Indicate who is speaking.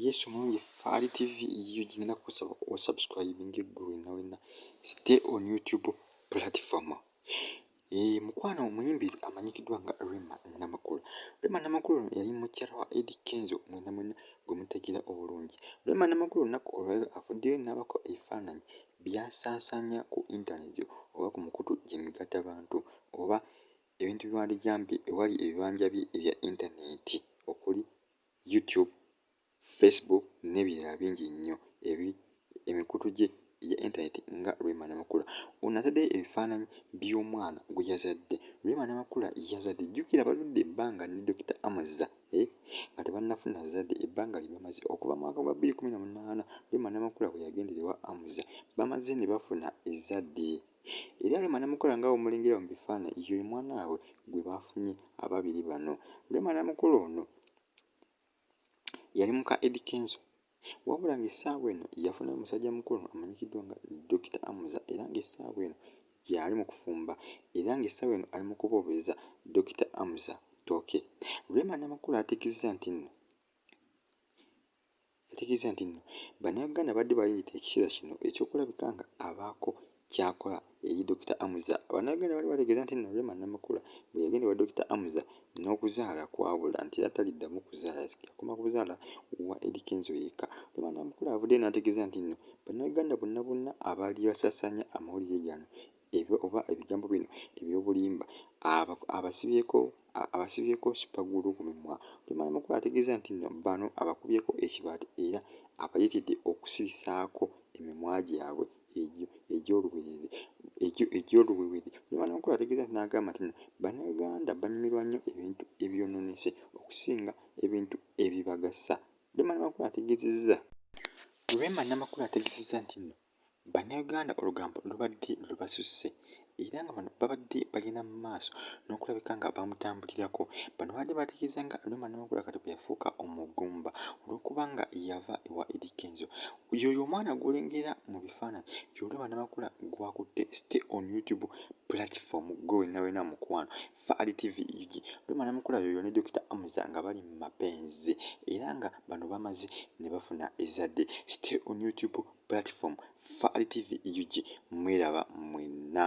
Speaker 1: yesu mungi faali tv yiyo gigenda kusaba osubscribing eggwe wenna wenna stay on youtube platform ee eh, mukwano omuyimbi amanyikiddwa nga rema namakulu rema namakulu ono yali mukyala wa edi kenzo mwena mwena gwe mutegeera obulungi rema namakulu olunaku olwaliro avuddeyo n'abako ebifaananyi byasaasaanya ku intaneti oba ku mukutu gyemigatta bantu oba ebintu biwandigambye ewali ebibanja bye ebya intaneti okuli YouTube, Facebook n'ebirala bingi nnyo ebi emikutu gye egya internet nga Rema Namakula. Ono atadde ebifaananyi by'omwana gwe yazadde. Rema Namakula yazadde jjukira baludde ebbanga ne Dokita Amazza eh, nga tebannafuna zadde ebbanga lye bamaze okuva mu mwaka gwa bbiri kkumi na munaana Rema Namakula bwe yagendera ewa Amza bamaze ne bafuna ezzadde. Era Rema Namakula nga bwemulengera mu bifaananyi ye mwana waabwe gwe baafunye ababiri bano. Rema Namakula ono yali muka Eddy Kenzo wabula ng'essaawa eno yafunayo musajja mukulu amanyikiddwa nga Dokita Amuza era ng'essaawa eno gyali mu kufumba era ng'essaawa eno ali mu kuboobereza Dokita Amuza ttooke. Rema Namakula ategezza nti nno yategeeza nti nno bannayuganda babadde baleeta ekiseera kino eky'okulabika nga abaako kyakola eri Dokita Amuza. Bannayuganda baali bategeeza nti nno Rema Namakula bwe yagenda ewa Dokita Amuza n'okuzaala kwabula nti era taliddamu kuzaala yakoma kuzaala wa Eddy Kenzo yekka. Rema Namakula avuddeyo n'ategeeza nti nno bannayuganda bonna bonna abaali basasanya amawulire gano ebyo oba ebigambo bino eby'obulimba aba abasibyeko abasibyeko sipagulu ku mimwa Lugemera Magoba ategeeza nti nno bano abakubyeko ekibaati era abayitidde okusirisaako emimwa gyabwe egyo egy'oluberyeberye egyo egy'oluwewere Lugemera Magoba ategeeza nti n'agamba nti nno bannayuganda banyumirwa nnyo ebintu ebyononese okusinga ebintu ebibagasa Lugemera Magoba ategeezezza Rema Namakula ategeezezza nti nno Bannayuganda olugambo lubadde lubasusse era nga bano babadde bagenda mu maaso n'okulabika nga bamutambulirako. Bano babadde bategeeza nga Rema Namakula kati bwe yafuuka omugumba olw'okuba nga yava ewa Eddy Kenzo. Y'oyo omwana gw'olengera mu bifaananyi ye Rema Namakula gw'akutte stay on YouTube platform ggwe wenna wenna mukwano Fahari TV UG Rema Namakula yoyo ne Dokita Amuza nga bali mu mapenzi era nga bano bamaze ne bafuna ezzadde. Stay on YouTube platform Fahari TV UG mweraba mwenna.